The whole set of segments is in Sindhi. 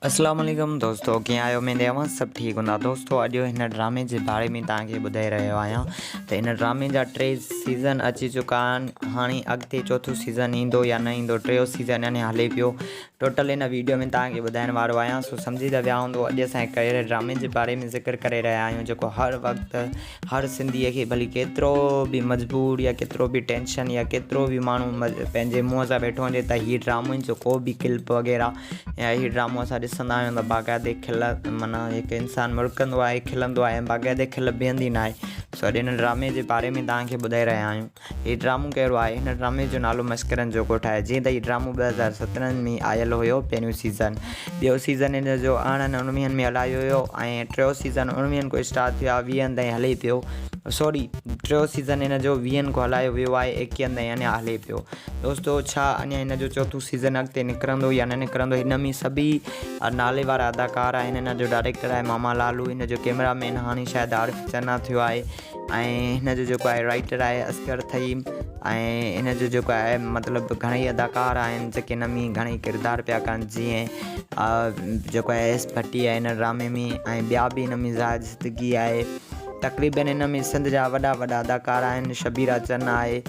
اسلام عليڪم دوستو ڪيئن آهيو اميد اوهان سڀ ٺيڪ هوندا دوستو اڄ هن ڊرامي جي باري ۾ توهان کي ٻڌائي رهيو آهيان ته هن ڊرامي جا ٽي سيزن اچي چڪا آهن هاڻي اڳتي چوٿون سيزن ايندو يا نه ايندو ٽيون سيزن اڃا هلي پيو ٽوٽل هن ويڊيو ۾ توهان کي ٻڌائڻ وارو آهيان سو سمجهي ته ويا هوندو اڄ اسان هڪ اهڙي ڊرامي جي باري ۾ ذڪر ڪري رهيا آهيون جيڪو هر وقت هر سنڌيء کي ڀلي ڪيترو به مجبور يا ڪيترو به ٽينشن يا ڪيترو به ماڻهو پنهنجي منهن سان ويٺو هجي ته هي ڊرامن جو ڪو به ڪلپ وغيره يا هي ڊرامو اسان ڏسندا آهيون ته باقاعدي کل مانا هڪ انسان مڙڪندو آهي کلندو آهي باقاعدي کل بيهندي ناهي سو اڄ هن ڊرامي جي باري ۾ تهانکي ٻڌائي رهيا آهيون هي ڊرامو ڪهڙو آهي؟ هن ڊرامي جو نالو مسڪرن جو ڳوٺ آهي، جيئن ته هي ڊرامو ٻه هزار سترهن ۾ آيل هيو، پهريون سيزن، ٻيو سيزن هن جو ارڙهن اڻويهن ۾ هلايو ويو ۽ ٽيون سيزن اڻويهن کان اسٽارٽ ٿيو آهي ويهن تائين هلي پيو، سوري ٽيون سيزن هن جو ويهن کان هلايو ويو آهي ايڪيهن تائين اڃا هلي پيو دوستو ڇا اڃا هن جو چوٿون سيزن اڳتي نڪرندو يا نه نڪرندو هن ۾ سڀئي نالي وارا اداڪار آهن هن جو ڊائريڪٽر آهي ماما لالو هن جو ڪيمرا مين هاڻي شايد عارف چنا ٿيو آهي. ۽ هن جو جيڪو آهي رائٽر آهي اصغر ٿهيم ۽ هن جو جيڪو آهي مطلب گهڻيئي اداڪار آهن جيڪي هن ۾ گهڻيئي ڪردار پيا ڪن جيئن جيڪو آهي ايس ڀٽي آهي هن ڊرامي ۾ ۽ ٻيا بي هن ۾ زاهد صدقي آهي تقريبن هن ۾ سنڌ جا وڏا وڏا اداڪار آهن شبيرا چن آهي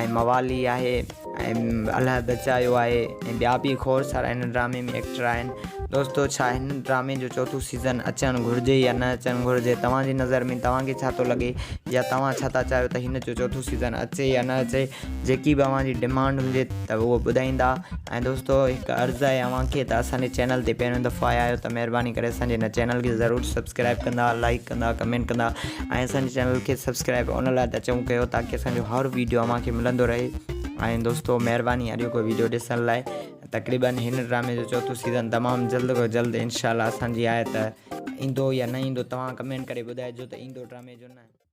۽ موالي آهي ۽ الله بچايو آهي ۽ ٻيا به کوڙ سارا هن ڊرامي ۾ ايڪٽر آهن دوستو ڇا هن ڊرامي جو چوٿون سيزن اچڻ گهرجي يا نه اچڻ گهرجي توهان جي نظر ۾ توهان کي ڇا ٿو لڳي يا توهان ڇا ٿا چاهيو ته هن جو چوٿون سيزن اچي يا نه اچي جيڪي به اوهان جي ڊمانڊ هجي ته اهو ٻڌائيندا ۽ دوستو هڪ عرض آهي اوهان کي ته اسان جي چينل تي پهريون دفعو آيا آهيو ته مهرباني ڪري اسان جي هن چينل کي ضرور سبسڪرائب ڪندا لائڪ ڪندا ڪمينٽ ڪندا ۽ اسان جي چينل کي سبسڪرائب ان لاء ته چون ڪيو تاڪي اسان جو هر ويڊيو اوهان کي ملندو رهي ۽ دوستو مهرباني اڄ کو ويڊيو ڏسڻ لاء تقريبن هن ڊرامي جو چوٿون سيزن تمام جلد کو جلد انشاءالله اسان جي آهي ته ايندو يا نه ايندو توهان ڪمينٽ ڪري ٻڌائجو ته ايندو ڊرامي جو نه